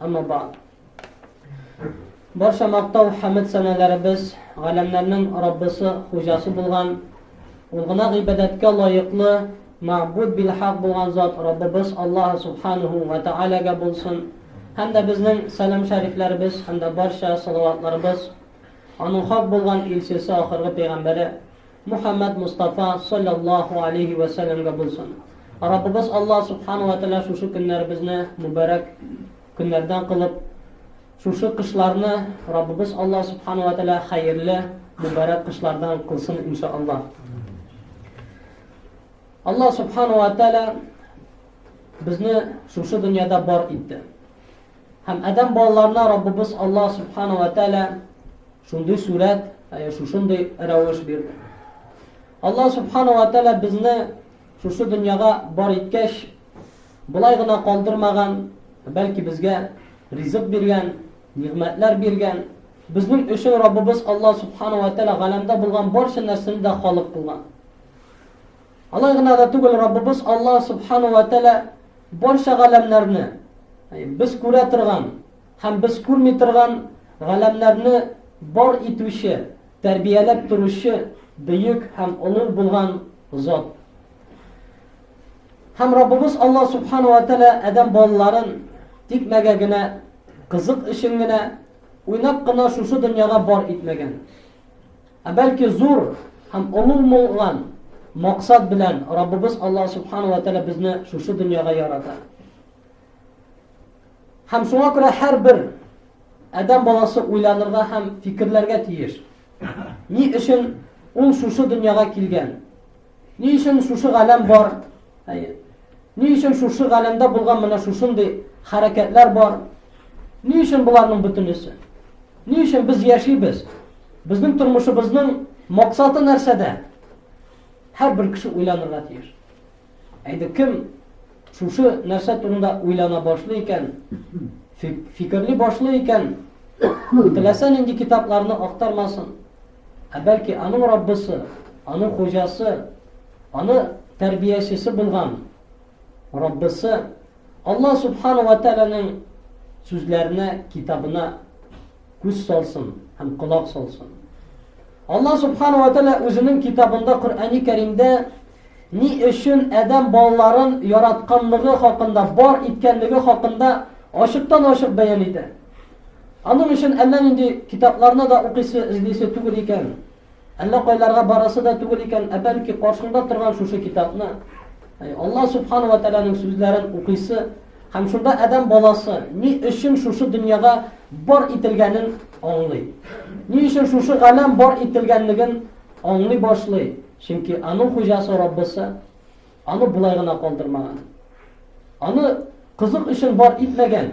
Әмма ба. Барша мактау хәмд сәнәләребез галәмнәрнең Раббысы, хуҗасы булган, ул гына гыйбадәткә лаеклы, мәгъбуд бил хак булган зат Раббыбыз Аллаһ субханаху ва таалагә булсын. Һәм дә безнең сәлам шәрифләребез һәм дә барча салаватларыбыз аның хак булган илчесе, ахыргы пәйгамбәре Мухәммәд Мостафа салләллаһу алейһи вә сәлләмгә булсын. Раббыбыз Аллаһ субхана ва тәгалә шушы көннәребезне мөбарәк көннәрдән кылып, шушы кышларны Раббыбыз Аллаһ субхана ва тәгалә хәерле, мөбарәк кышлардан кылсын иншааллаһ. Аллаһ субхана ва тәгалә безне шушы дөньяда бар итте. Һәм Адәм балаларына Раббыбыз Аллаһ Субхана ва Тәала шундый сурәт, ә шушындый рәвеш бирде. Аллаһ Субхана ва Тәала безне шушы дөньяга бар иткәч, болай гына калдырмаган, бәлки безгә ризык биргән, нигъмәтләр биргән. Безнең өчен Раббыбыз Аллаһ Субхана ва Тәала галәмдә булган барча нәрсәне дә халык кылган. Алай гына да түгел, Раббыбыз Аллаһ Субхана ва Тәгалә барча галәмнәрне, без күрә торган һәм без күрми торган галәмнәрне бар итүче, тәрбияләп торучы бөек һәм олы булган зат. Һәм Раббыбыз Аллаһ Субхана ва Тәгалә адәм балаларын тикмәгә генә, кызык өчен генә, уйнап кына шушы дөньяга бар итмәгән. Ә бәлки зур һәм олуг мулган максат белән Раббыбыз Аллаһ Субхану ва Тәгалә безне шушы дөньяга ярата. Һәм шуңа күрә һәрбер адәм баласы уйланырга һәм фикерләргә тиеш. Ни өчен ул шушы дөньяга килгән? Ни өчен шушы галәм бар? Әйе. Ни өчен шушы галәмдә булган менә шушындый хәрәкәтләр бар? Ни өчен боларның бөтенесе? Ни өчен без яшибез? Безнең тормышыбызның максаты нәрсәдә? Һәр бер кеше уйланырга тиеш. Әйдә кем шушы нәрсә турында уйлана башлый икән, фикерли башлый икән, теләсә нинди китапларны актармасын. Ә бәлки аның Раббысы, аның хуҗасы, аны тәрбиячесе булган Раббысы Алла Субхана ва Тәләнең сүзләренә, китабына күз салсын һәм колак салсын. Алла Субхана ва Тәлә үзенең китабында Коръәни Кәримдә ни өчен әдәм балаларын яратканлыгы хакында, бар иткәнлеге хакында ачыктан-ачык бәян итә. Аның өчен әллә нинди китапларны да укыйсы, эзлисе түгел икән. Әллә кайларга барасы да түгел икән, ә бәлки каршыңда торган шушы китапны, Алла субхана ва тәгаләнең сүзләрен укыйсы һәм шунда адәм баласы ни өчен шушы дөньяга бар ителгәнен аңлый. Ни өчен шушы галәм бар ителгәнлеген аңлый башлый. Чөнки аның хуҗасы Раббысы аны болай гына калдырмаган. Аны кызык өчен бар итмәгән.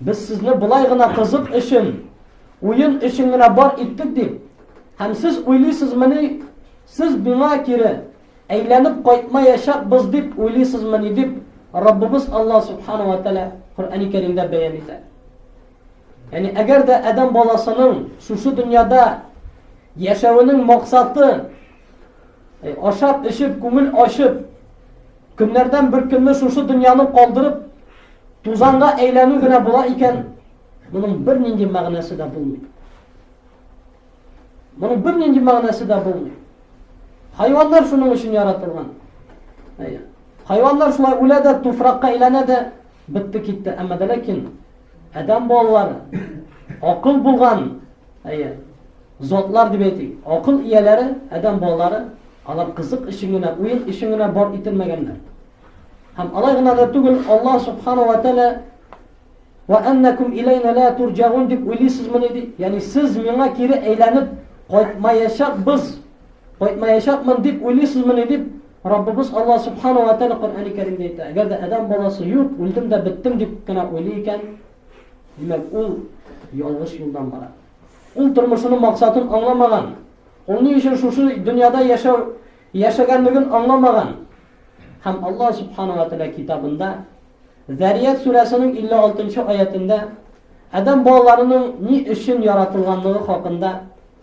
Без сезне болай гына кызык өчен, уен өчен генә бар иттек дип, һәм сез уйлыйсызмыни, сез миңа кире әйләнеп кайтмаячакбыз дип уйлыйсызмыни дип Раббыбыз Алла Субхану ва Тәала Коръәни Кәримдә бәян итә. Яни әгәр дә адәм баласының шушы дөньяда яшәвенең максаты Ашап, эчеп, күңел ачып, көннәрдән бер көнне шушы дөньяны калдырып, тузанга әйләнү генә була икән, моның бер нинди мәгънәсе дә булмый. Моның бер нинди мәгънәсе дә булмый. Хайваннар шуның өчен яратылган. Хайваннар шулай үлә дә, туфракка әйләнә дә, бетте китте. Әмма дә ләкин Адәм балалары акыл булган, әйе, затлар дип әйтик. Акыл ияләре, адәм балалары, алар кызык өчен генә, уен өчен генә бар ителмәгәннәр. Һәм алай гына да түгел, Аллаһ субхану ва тәлә ва аннакум илайна ла турҗагун дип уйлыйсызмы диде. Ягъни сез миңа кире әйләнеп кайтмаячакбыз Кайтмаячакмын дип уйлыйсызмыни дип, Раббыбыз Алла Субхана ва Тәала Коръәни Кәримдә әйтә. Әгәр дә адәм баласы юк, үлдем дә беттем дип кенә уйлый икән, димәк, ул ялгыш юлдан бара. Ул тормышының максатын аңламаган. Ул ни өчен шушы дөньяда яшәү яшәгәнлеген аңламаган. Һәм Алла Субхана ва Тәала китабында Зәрият сүрәсенең 56 нчы аятында адәм балаларының ни өчен яратылганлыгы хакында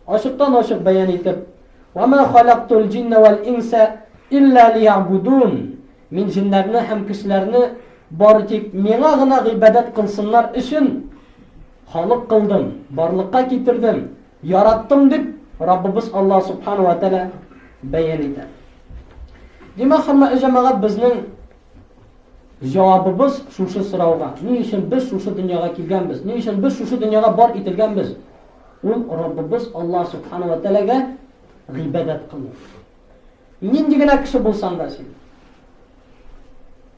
Ачыктан-ачык бәян итеп, "Ва ма халактул җинна вал инса илля лиябудун" Мин җиннәрне һәм кешеләрне бары тик миңа гына гыйбадәт кылсыннар өчен халык кылдым, барлыкка китердем, яраттым дип Раббыбыз Аллаһ субхана ва тәала бәян итә. Димәк, хөрмәтле җәмәгать, безнең җавабыбыз шушы сорауга. Ни өчен без шушы дөньяга килгәнбез? Ни өчен без шушы дөньяга бар ителгәнбез? Ул Раббыбыз Аллаһ Сүбхәнәһү вә Тәгаләгә гыйбадәт кылу. Нинди генә кеше булсаң да син.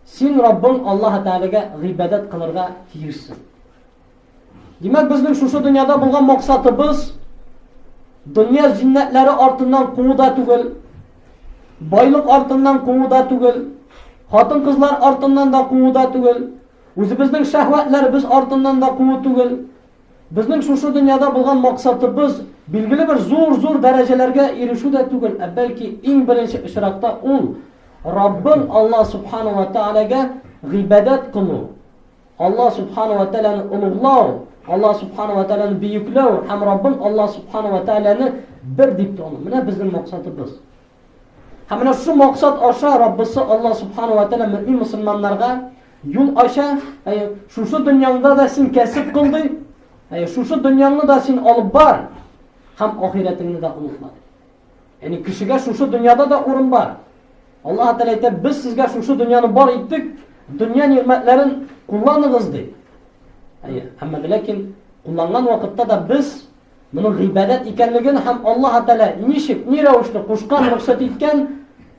Син Раббың Аллаһ Тәгаләгә гыйбадәт кылырга тиешсең. Димәк, безнең шушы дөньяда булган максатыбыз дөнья зиннәтләре артыннан куу да түгел, байлык артыннан куу да түгел, хатын-кызлар артыннан да куу да түгел, үзебезнең шәһвәтләребез артыннан да куу түгел. Безнең шушы дөньяда булган максатыбыз билгеле бер зур-зур дәрәҗәләргә ирешү дә түгел, ә бәлки иң беренче очракта ул Раббың Алла субхана ва тәгаләгә гыйбадәт кылу, Алла субхана ва тәгаләне олуглау, Алла субхана ва тәгаләне бөекләү һәм Раббың Алла субхана ва тәгаләне бер дип тану. Менә безнең максатыбыз. Һәм менә шул максат аша Раббысы Алла Субхану ва Тәгалә мөмин мусульманнарга юл ача, әй, шушы дөньяңда да син кәсеп кыл ди, әй, шушы дөньяңны да син алып бар, һәм ахирәтеңне дә онытма. Яни кешегә шушы дөньяда да урын бар. Алла Тәгалә әйтә, без сезгә шушы дөньяны бар иттек, дөнья нигъмәтләрен кулланыгыз ди. Әй, әмма ләкин кулланган вакытта да без Моның гыйбадәт икәнлеген һәм Аллаһ Тәгалә ничек, ни рәвешле кушкан, рөхсәт иткән,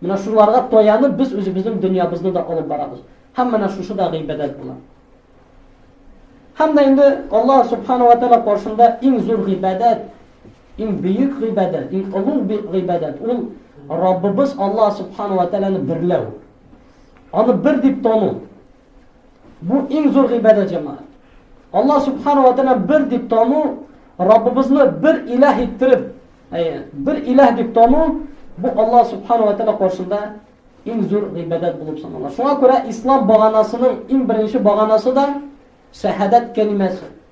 менә шуларга таянып без үзебезнең дөньябызны да алып барабыз. Һәм менә шушы да гыйбадәт була. Һәм дә инде Аллаһ Субхану ва Тәгалә каршында иң зур гыйбадәт, иң бөек гыйбадәт, иң олуг гыйбадәт ул Раббыбыз Аллаһ Субхану ва Тәгаләне берләү. Аны бер дип тану. Бу иң зур гыйбадәт җәмәгать. Аллаһ субхана ва тәгалә бер дип тану, Раббыбызны бер илаһ иттереп, әйе, бер илаһ дип тану, бу Аллаһ субхана ва тәгалә каршында иң зур гыйбадәт булып санала. Шуңа күрә ислам баганасының иң беренче баганасы да шәһадәт кәлимәсе.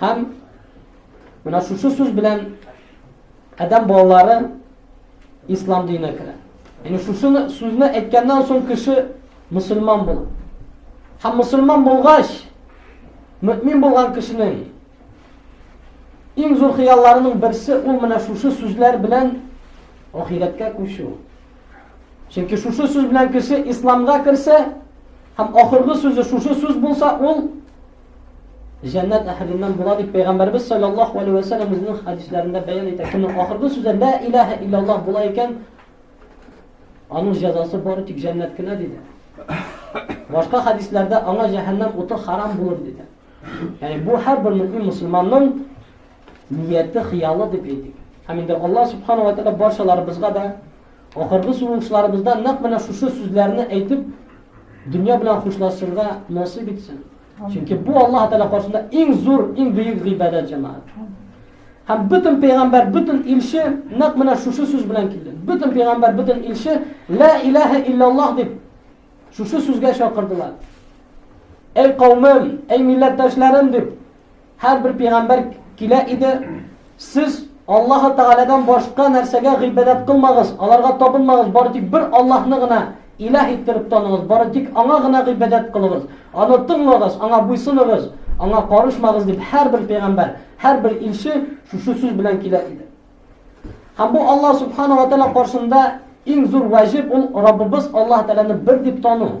Һәм менә шушы сүз белән адәм балалары ислам диненә керә. Яни шушыны сүзне әйткәннән соң кеше мусульман була. Һәм мусульман булгач, мөмин булган кешенең иң зур хыялларының берсе ул менә шушы сүзләр белән ахирәткә күчү. Чөнки шушы сүз белән кеше исламга керсә, һәм ахыргы сүзе шушы сүз булса, ул Җәннәт әһеленнән була дип пәйгамбәрбез саллаллаһу алейһи ва саллям үзенең хәдисләрендә бәян итә. Кемнең ахыргы сүзе ла илаһа иллаллаһ була икән, аның җәзасы бары тик җәннәт кенә диде. Башка хәдисләрдә аңа җәһәннәм уты харам булыр диде. Яни бу һәрбер мөмин мусламанның нияте, хыялы дип әйтик. Һәм инде Аллаһ субхану ва тааля барчаларыбызга да Ахыргы сулышларыбызда нәкъ менә шушы сүзләрне әйтеп, дөнья белән хушлашырга насыйп итсен. Чөнки бу Аллаһ Тәгалә каршында иң зур, иң бөек гыйбадәт җәмәгать. Һәм бөтен пәйгамбәр, бөтен илче нәкъ менә шушы сүз белән килде. Бөтен пәйгамбәр, бөтен илче ла илаһа иллаллаһ дип шушы сүзгә чакырдылар. Әй каумым, әй милләттәшләрем дип Һәр бер пигамбәр килә иде, сез Аллаһы Тәгаләдән башка нәрсәгә гыйбадәт кылмагыз, аларга табынмагыз, бары тик бер Аллаһны гына илаһ иттереп таныгыз, бары тик аңа гына гыйбадәт кылыгыз, аны тыңлагыз, аңа буйсыныгыз, аңа карышмагыз дип һәр бер пигамбәр, һәр бер илче шушы сүз белән килә иде. Һәм бу Аллаһ Субхану ва Тәгалә каршында иң зур ваҗиб ул Раббыбыз Аллаһ Тәгаләне бер дип тану.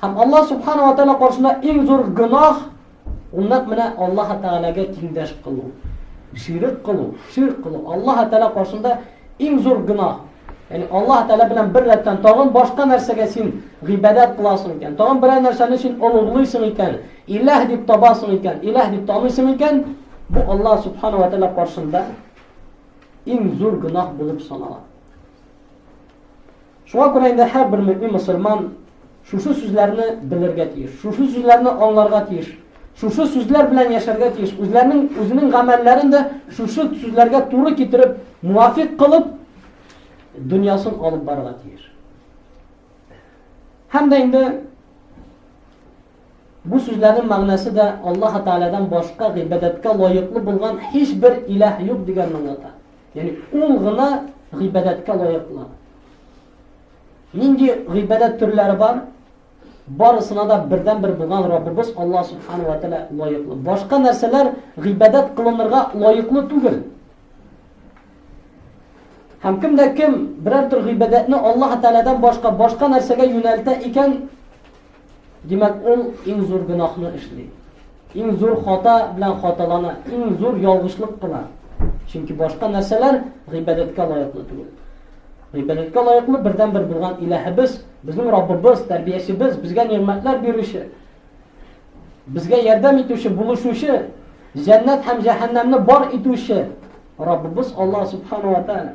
Һәм Аллаһ Субхану ва Тәала каршында иң зур гөнаһ ул нәкъ менә Аллаһ Тәгаләгә тиңдәш кылу, ширк кылу, ширк кылу. Аллаһ Тәала каршында иң зур гөнаһ. Яни Аллаһ Тәгалә белән бер рәттән тагын башка нәрсәгә син гыйбадәт кыласың икән, тагын берәр нәрсәне син олуглыйсың икән, илаһ дип табасың икән, илаһ дип таныйсың икән, бу Аллаһ Субхану ва Тәгалә каршында иң зур гөнаһ булып санала. Шуңа күрә инде һәрбер мөэмин мөселман шушы сүзләрне белергә тиеш, шушы сүзләрне аңларга тиеш, шушы сүзләр белән яшәргә тиеш, үзләренең үзенең гамәлләрен дә шушы сүзләргә туры китереп, муафик кылып, дөньясын алып барырга тиеш. Һәм дә инде Бу сүзләрнең мәгънәсе дә Аллаһ Тәгаләдән башка гыйбадәткә лаеклы булган һичбер илаһ юк дигәнне аңлата. Ягъни ул гына гыйбадәткә лаеклы. Нинди гыйбадәт төрләре бар? барысына да бердән бер булган Раббыбыз Аллаһ субхану ва тааля лаеклы. Башка нәрсәләр гыйбадәт кылынырга лаеклы түгел. Һәм кем дә кем берәр төр гыйбадәтне Аллаһ таалядан башка башка нәрсәгә юнәлтә икән, Димәк, ул иң зур гөнаһны эшли. Иң зур хата белән хаталана, иң зур ялгышлык кына. Чөнки башка нәрсәләр гыйбадәткә лаеклы түгел. Гыйбадәткә лаеклы бердәнбер булган Илаһыбыз, безнең Раббыбыз, тәрбиячебез, безгә нигъмәтләр бирүче, безгә ярдәм итүче, булышучы, җәннәт һәм җәһәннәмне бар итүче Раббыбыз Аллаһ субхану ва тааля.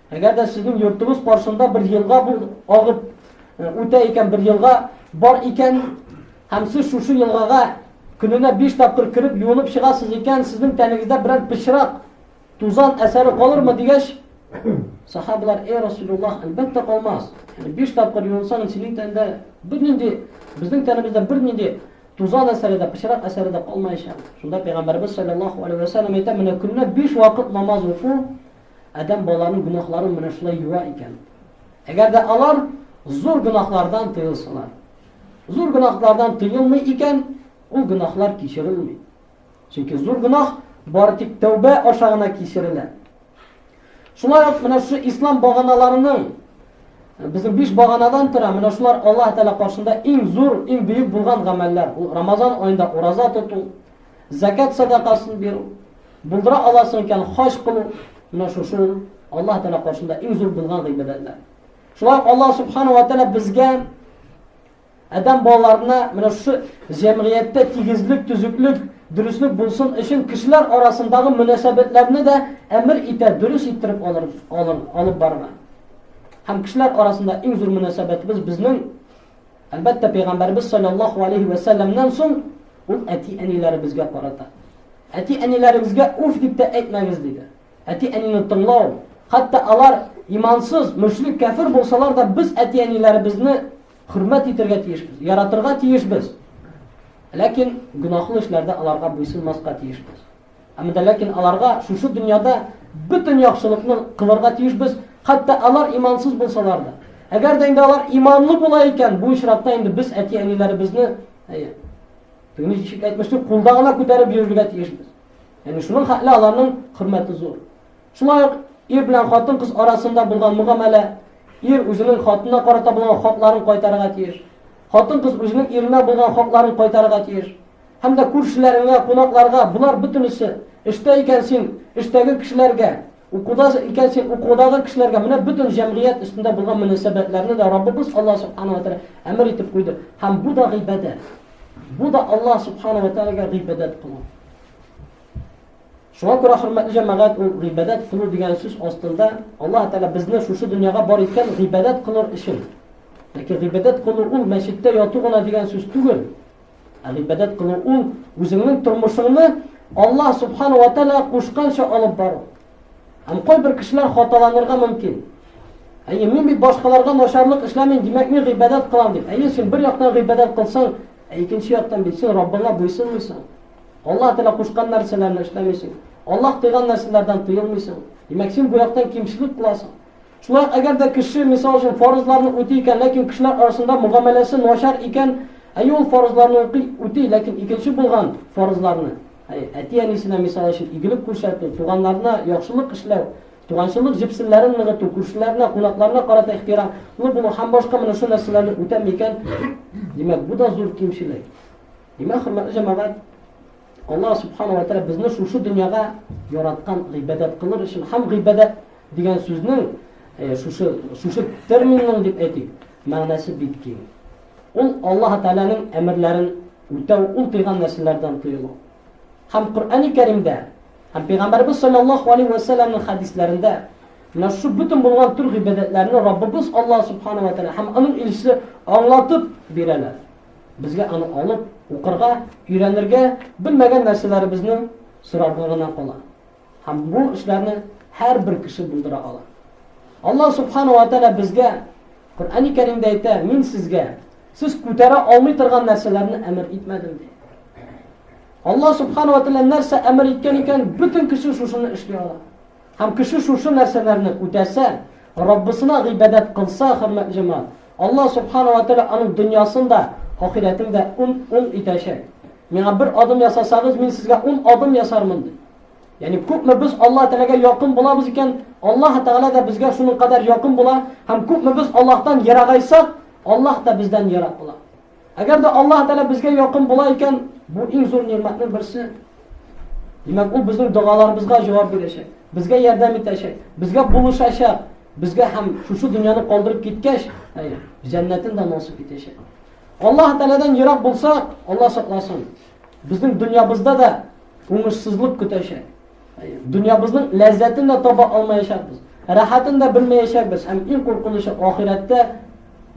Әгәр дә сезнең йортыгыз каршында бер елга бу агып үтә икән, бер елга бар икән, һәм сез шушы елгага көненә 5 тапкыр кереп юынып чыгасыз икән, сезнең тәнегездә берәр пычрак, тузан әсәре калырмы дигәч, сахабалар, "Эй Расулуллах, әлбәттә калмас. Яни 5 тапкыр юынсаң, синең тәндә бернинди, безнең тәнебездә бернинди тузан әсәре дә, пычрак әсәре дә калмаячак." Шунда пәйгамбәрбез саллаллаһу алейһи ва саллям әйтә, "Менә көненә 5 вакыт намаз уку, Адәм баланың гөнаһларын менә шулай юа икән. Әгәр дә алар зур гөнаһлардан тыелсалар, зур гөнаһлардан тыелмый икән, ул гөнаһлар кичерелми. Чөнки зур гөнаһ бары тик тәүбә аша гына кичерелә. Шулай ук менә шу ислам баганаларының Безнең биш баганадан тора, менә шулар Аллаһ Тәгалә каршында иң зур, иң бөек булган гамәлләр. Ул Рамазан аенда ураза тоту, Зәкәт садакасын бирү, булдыра аласың икән, хаҗ кылу, менә шушы Аллаһ Тәгалә каршында иң зур булган гыйбадәтләр. Шулай Аллаһ Субхану ва Тәгалә безгә адәм балаларына менә шушы җәмгыятьтә тигезлек, төзеклек, дөреслек булсын өчен кешеләр арасындагы мөнәсәбәтләрне дә әмер итә, дөрес иттереп алыр, алыр, алып барырга. Һәм кешеләр арасында иң зур мөнәсәбәтебез безнең Әлбәттә, пәйгамбәрбез саллаллаһу алейһи вә сәлләмнән соң ул әти-әниләребезгә карата. Әти-әниләребезгә уф дип тә әйтмәгез диде. Әти-әнине тыңлау, хәтта алар имансыз, мөшрик, кәфир булсалар да без әти-әниләребезне хөрмәт итәргә тиешбез, яратырга тиешбез. Ләкин гөнаһлы эшләрдә аларга буйсынмаска тиешбез. Әмма дә ләкин аларга шушы дөньяда бөтен яхшылыкны кылырга тиешбез, хәтта алар имансыз булсалар да. Әгәр дә инде алар иманлы була икән, бу очракта инде без әти-әниләребезне Тегене ничек әйтмешли, кулда гына күтәреп йөрергә тиешбез. Яни шуның хәтле аларның хөрмәте зур. Шулай ук ир белән хатын-кыз арасында булган мөгамәлә, ир үзенең хатынына карата булган хакларын кайтарырга тиеш. Хатын-кыз үзенең иренә булган хакларын кайтарырга тиеш. Һәм дә күршеләреңә, кунакларга, болар бөтенесе, эштә икән син, эштәге кешеләргә, укуда икән син, укудагы кешеләргә, менә бөтен җәмгыять өстендә булган мөнәсәбәтләрне дә Раббыбыз Аллаһ Субхана ва Тәгалә әмер итеп куйды. Һәм бу да гыйбадәт. Бу да Аллаһ Субхана ва Тәгаләгә гыйбадәт кылу. Шуңа күрә хөрмәтле җәмәгать, ул гыйбадәт кылу дигән сүз астында Аллаһ Тәгалә безне шушы дөньяга бар иткән гыйбадәт кылыр өчен. Ләкин гыйбадәт кылу ул мәчеттә яту гына дигән сүз түгел. Ә гыйбадәт кылу ул үзеңнең тормышыңны Аллаһ субхана ва тәала кушканча алып бару. Һәм кайбер кешеләр хаталанырга мөмкин. Әйе, мин бит башкаларга начарлык эшләмим, димәк мин гыйбадәт кылам дип. Әйе, син бер яктан гыйбадәт кылсаң, ә икенче яктан бит син Раббыңа буйсынмыйсың. Аллаһ тәала кушкан нәрсәләрне эшләмисең. Аллаһ тыйган нәрсәләрдән тыелмыйсың. Димәк, син бу яктан кимчелек кыласың. Шулай ук әгәр дә кеше, мисал өчен, фарызларны үти икән, ләкин кешеләр арасында мөгамәләсе начар икән, әйе, ул фарызларны укый, үти, ләкин икенче булган фарызларны, әйе, әти-әнисенә, мисал өчен, игелек күрсәтү, туганнарына яхшылык эшләү, туганчылык җепселләрен ныгыту, күршеләренә, кунакларына карата ихтирамлы булу һәм башка менә шул нәрсәләрне үтәми икән, димәк, бу да зур кимчелек. Димәк, хөрмәтле җәмәгать, Аллаһ субхана ва тәгалә безне шушы дөньяга яраткан гыйбадәт кылыр өчен һәм гыйбадәт Дигән сүзнең, шушы, шушы терминның дип әйтик, мәгънәсе бик киң. Ул Аллаһ Тәгаләнең әмерләрен үтәү, ул тыйган нәрсәләрдән тыелу. Һәм Коръәни Кәримдә, һәм Пәйгамбәрбез саллаллаһу алейһи ва сәлләмнең хәдисләрендә менә шушы бөтен булган төр гыйбадәтләрне Раббыбыз Аллаһ субхана ва тәгалә һәм аның илчесе аңлатып бирәләр. Безгә аны алып, укырга, өйрәнергә, белмәгән нәрсәләребезне сорарга гына кала. Һәм бу эшләрне һәрбер кеше булдыра ала. Аллаһ Субхана ва Тәгалә безгә Коръәни Кәримдә әйтә, мин сезгә сез күтәрә алмый торган нәрсәләрне әмер итмәдем ди. Аллаһ Субхана ва Тәгалә нәрсә әмер иткән икән, бөтен кеше шушыны эшли ала. Һәм кеше шушы нәрсәләрне үтәсә, Раббысына гыйбадәт кылса, хөрмәтле җәмәгать, Аллаһ Субхана вә Тәгалә аның дөньясын да, ахирәтен дә уң итәчәк. Миңа бер адым ясасагыз, мин сезгә ун адым ясармын, ди. Ягъни күпме без Аллаһ Тәгаләгә якын булабыз икән, Аллаһ Тәгалә дә безгә шуның кадәр якын була, һәм күпме без Аллаһтан ерагайсак, Аллаһ та бездән ерак була. Әгәр дә Аллаһ Тәгалә безгә якын була икән, бу иң зур нигъмәтнең берсе. Димәк, ул безнең догаларыбызга җавап бирәчәк, безгә ярдәм итәчәк, безгә булышачак, безгә һәм шушы дөньяны калдырып киткәч, әйе, җәннәтен дә насыйп итәчәк. Аллаһ Тәгаләдән ерак булсак, Алла сакласын. Безнең дөньябызда да уңышсызлык көтәчәк. Дөньябызның ләззәтен дә таба алмаячакбыз, рәхәтен дә белмәячәкбез һәм иң куркынычы ахирәттә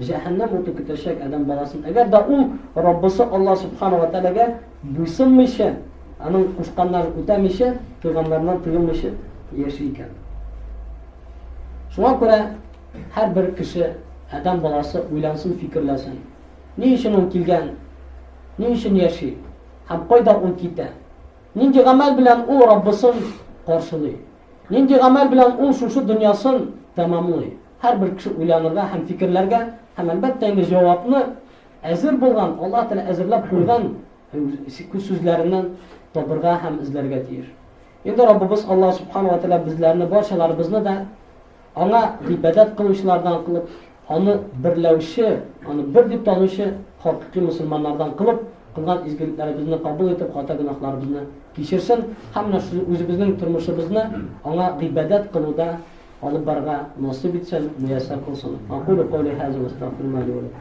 җәһәннәм уты көтәчәк адәм баласын. Әгәр дә ул Раббысы Алла субхана ва тәгаләгә буйсынмыйча, аның кушканнарын үтәмичә, тыйганнарыннан тыелмыйча яши икән. Шуңа күрә һәрбер кеше, адәм баласы уйлансын, фикерләсен. Ни өчен ул килгән? Ни өчен яши? Һәм кайда ул китә? Нинди гамәл белән ул Раббысын каршылый? Нинди гамәл белән ул шушы дөньясын тәмамлый? Һәрбер кеше уйланырга һәм фикерләргә һәм әлбәттә инде җавапны әзер булган, Аллаһ Тәгалә әзерләп куйган сүзләреннән табырга һәм эзләргә тиеш. Инде Раббыбыз Аллаһ Субхану ва Тәгалә безләрне, барчаларыбызны да Аңа гыйбадәт кылучылардан кылып, аны берләүче, аны бер дип танучы хакыйкый мусульманнардан кылып, кылган изгелекләребезне кабул итеп, хата гөнаһларыбызны кичерсен һәм үзебезнең тормышыбызны аңа гыйбадәт кылуда алып барырга насыйп итсен, мияссәр кылсын. Акулу каули хаза ва астагфируллаһ ли ва лакум.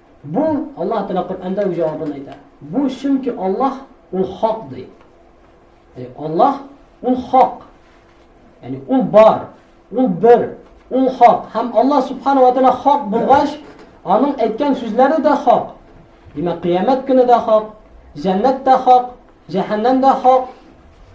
Бу, Аллаһ Тәгалә Коръәндә үз җавабын әйтә. Бу чөнки Аллаһ ул хак ди. Әй, Аллаһ ул хак. Ягъни ул бар, ул бер, ул хак. Һәм Аллаһ Субхану ва Тәгалә хак булгач, аның әйткән сүзләре дә хак. Димәк, кыямәт көне дә хак, җәннәт тә хак, Җәһәннәм дә хак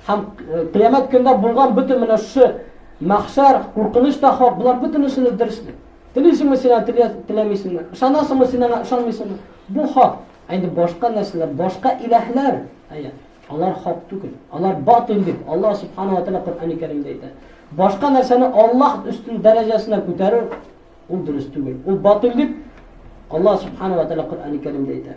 һәм кыямәт көндә булган бөтен менә шушы мәхшәр, куркыныч та хак, болар бөтенесен дә дөресме? Телисеңме син аны, теләмисеңме? Ышанасыңмы син аңа, ышанмыйсыңмы? Бу хак. Ә инде башка нәрсәләр, башка иләһләр, әйе, алар хак түгел. Алар батил дип Аллаһ субханала тәгалә Коръәни Кәримдә әйтә. Башка нәрсәне Аллаһ өстен дәрәҗәсенә күтәрү ул дөрес түгел. Ул батил дип Аллаһ субханала тәгалә Коръәни Кәримдә әйтә.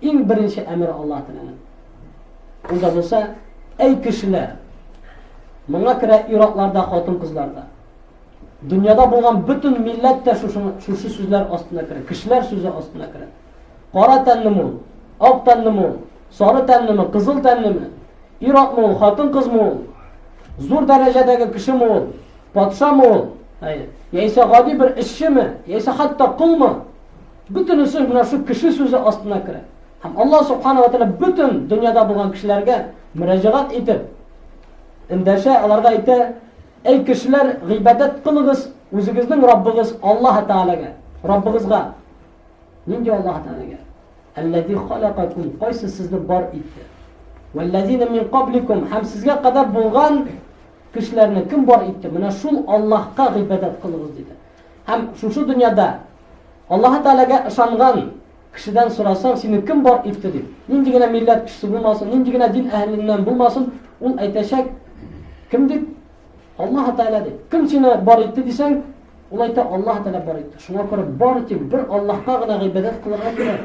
Иң беренче әмер Аллаһ Тәгаләнең. Анда булса, әй кешеләр, моңа керә ир-атларда, хатын-кызларда. Дөньяда булган бөтен милләт тә шушы, шушы сүзләр астына керә, кешеләр сүзе астына керә. Кара тәнлеме ул, ак тәнлеме ул, сары тәнлеме, кызыл тәнлеме, ир-атмы ул, хатын-кызмы ул, зур дәрәҗәдәге кешеме ул, патшамы ул, яисә гади бер эшчеме, яисә хәтта колмы? Бөтенесе менә шу кеше сүзе астына керә. Һәм Аллаһ субхана ва тәгалә бөтен дөньяда булган кешеләргә мөрәҗәгать итеп, эндәшә, аларга әйтә, Әй кешеләр, гыйбадәт кылыгыз үзегезнең Раббыгыз Аллаһ Тәгаләгә, Раббыгызга. Нинди Аллаһ Тәгаләгә? Әлләзи халакакум, кайсы сезне бар итте? Вәлләзина мин кабликум, һәм сезгә кадәр булган кешеләрне кем бар итте? Менә шул Аллаһка гыйбадәт кылыгыз диде. Һәм шушы дөньяда Аллаһы Тәгаләгә ышанган кешедән сорасаң, сине кем бар итте дип, нинди генә милләт кешесе булмасын, нинди генә дин әһеленнән булмасын, ул әйтәчәк, кем дип? Аллаһ Тәгалә дип. Кем сине бар итте дисәң, ул әйтә, Аллаһ Тәгалә бар итте. Шуңа күрә бар тик бер Аллаһка гына гыйбадәт кылырга кирәк.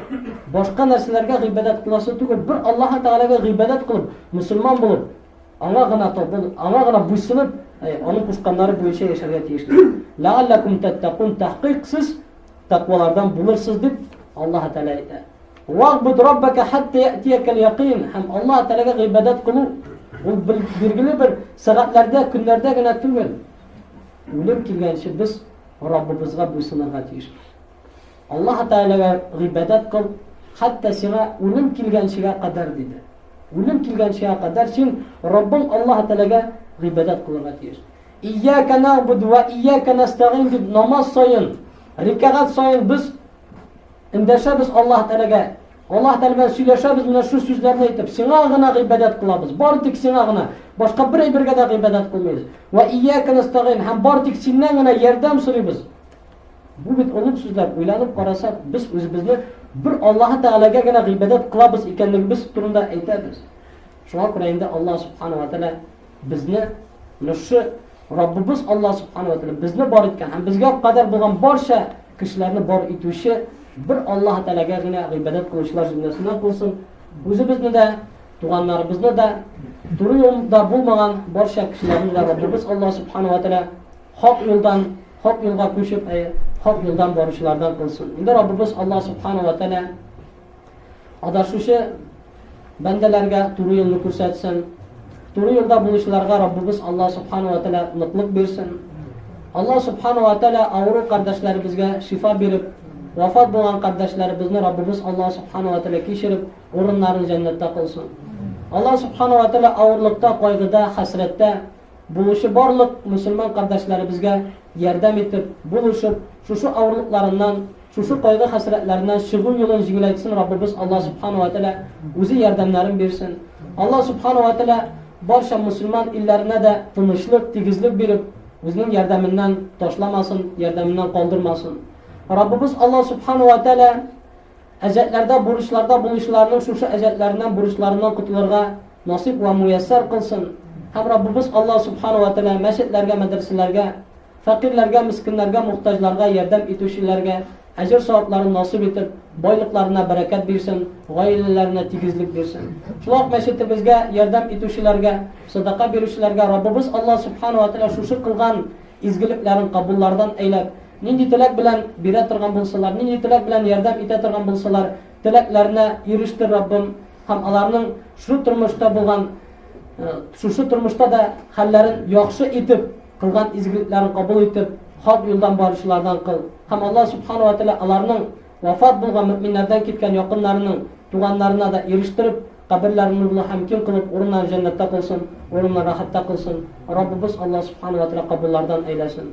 Башка нәрсәләргә гыйбадәт кыласы түгел, бер Аллаһ Тәгаләгә гыйбадәт кылып, мусульман булып, Аңа гына табын, аңа гына буйсынып, аның кушканнары буенча яшәргә тиешбез. Ләаллакум тәттәкун тәхкыйк сез тәкъвалардан булырсыз дип Аллаһ Тәгалә әйтә. Вагбуд раббака хәтта ятиякәл якин. Һәм Аллаһ Тәгаләгә гыйбадәт кылу ул билгеле бер сәгатьләрдә, көннәрдә генә түгел. Үлем килгәнче без Раббыбызга буйсынырга тиешбез. Аллаһы Тәгаләгә гыйбадәт кыл, хәтта сиңа үлем килгәнчегә кадәр диде. Үлем килгәнчегә кадәр син Раббың Аллаһы Тәгаләгә гыйбадәт кылырга тиеш. Ияка нагъбуду ва ияка настагин дип намаз саен, рикагат саен без эндәшәбез Аллаһ Тәләгә. Аллаһ Тәләгә сөйләшәбез менә шу сүзләрне әйтеп, сиңа гына гыйбадәт кылабыз. Бар тик сиңа гына. Башка бер әйбергә дә гыйбадәт кылмыйбыз. Ва ияка настагин һәм бар тик синнән генә ярдәм сорыйбыз. Бу бит онык сүзләр. Уйланып карасак, без үзебезне бер Аллаһы Тәгаләгә генә гыйбадәт кылабыз икәнлегебез турында әйтәбез. Шуңа күрә инде Аллаһ Субхану ва Тәгалә безне нушы Раббыбыз Аллаһ Субхану ва Тәгалә безне бар иткән һәм безгә кадәр булган барча кешеләрне бар итүче бер Аллаһ Тәгаләгә генә гыйбадәт кылучылар җөмләсеннән булсын. Үзебезне дә, туганнарыбызны да, дөрес юлда булмаган барча кешеләрне дә Раббыбыз Аллаһ Субхану ва Тәгалә Хак юлдан, хак юлга күчеп, әйе, хак юлдан баручылардан кылсын. Инде Раббыбыз Аллаһ Субхану ва Тәгалә адашучы бәндәләргә туры юлны күрсәтсен. Туры юлда булучыларга Раббыбыз Аллаһ Субхану ва Тәгалә ныклык бирсен. Аллаһ Субхану ва Тәгалә авыру кардәшләребезгә шифа биреп, вафат булган кардәшләребезне Раббыбыз Аллаһ Субхану ва Тәгалә кичереп, урыннарын җәннәттә кылсын. Аллаһ Субхану ва Тәгалә авырлыкта, кайгыда, хәсрәттә Булучы барлык мөселман кардәшләребезгә ярдәм итеп, булышып, шушы авырлыкларыннан, шушы кайгы-хәсрәтләреннән чыгу юлын җиңеләйтсен Раббыбыз Алла Субхана вә Тәгалә үзе ярдәмнәрен бирсен. Алла Субхана вә Тәгалә барча мөселман илләренә дә тынычлык, тигезлек биреп, үзенең ярдәменнән ташламасын, ярдәменнән калдырмасын. Раббыбыз Алла Субхана вә Тәгалә Әҗәтләрдә, бурычларда булучыларның шушы әҗәтләреннән, бурычларыннан котылырга насыйп вә муяссар кылсын. Һәм Раббыбыз Аллаһ Субхана вә Тәгалә мәчетләргә, мәдрәсәләргә, фәкыйрьләргә, мескеннәргә, мохтаҗларга ярдәм итүчеләргә әҗер-савапларын насыйп итеп, байлыкларына бәрәкәт бирсен, гаиләләренә тигезлек бирсен. Шулай ук мәчетебезгә ярдәм итүчеләргә, садака бирүчеләргә Раббыбыз Аллаһ Субхана вә Тәгалә шушы кылган изгелекләрен кабуллардан әйләп, Нинди теләк белән бирә торган булсалар, нинди теләк белән ярдәм итә торган булсалар, теләкләренә ирештер Раббым һәм аларның шул тормышта булган, шушы тормышта да хәлләрен яхшы итеп, кылган изгелекләрен кабул итеп, хак юлдан баручылардан кыл. Һәм Аллаһ Субхана ва Тәгалә аларның вафат булган мөэминнәрдән киткән якыннарының туганнарына да ирештереп, каберләрен нурлы һәм киң кылып, урыннарын җәннәттә кылсын, урыннарын рәхәттә кылсын. Раббыбыз Аллаһ Субхана ва Тәгалә кабуллардан әйләсен.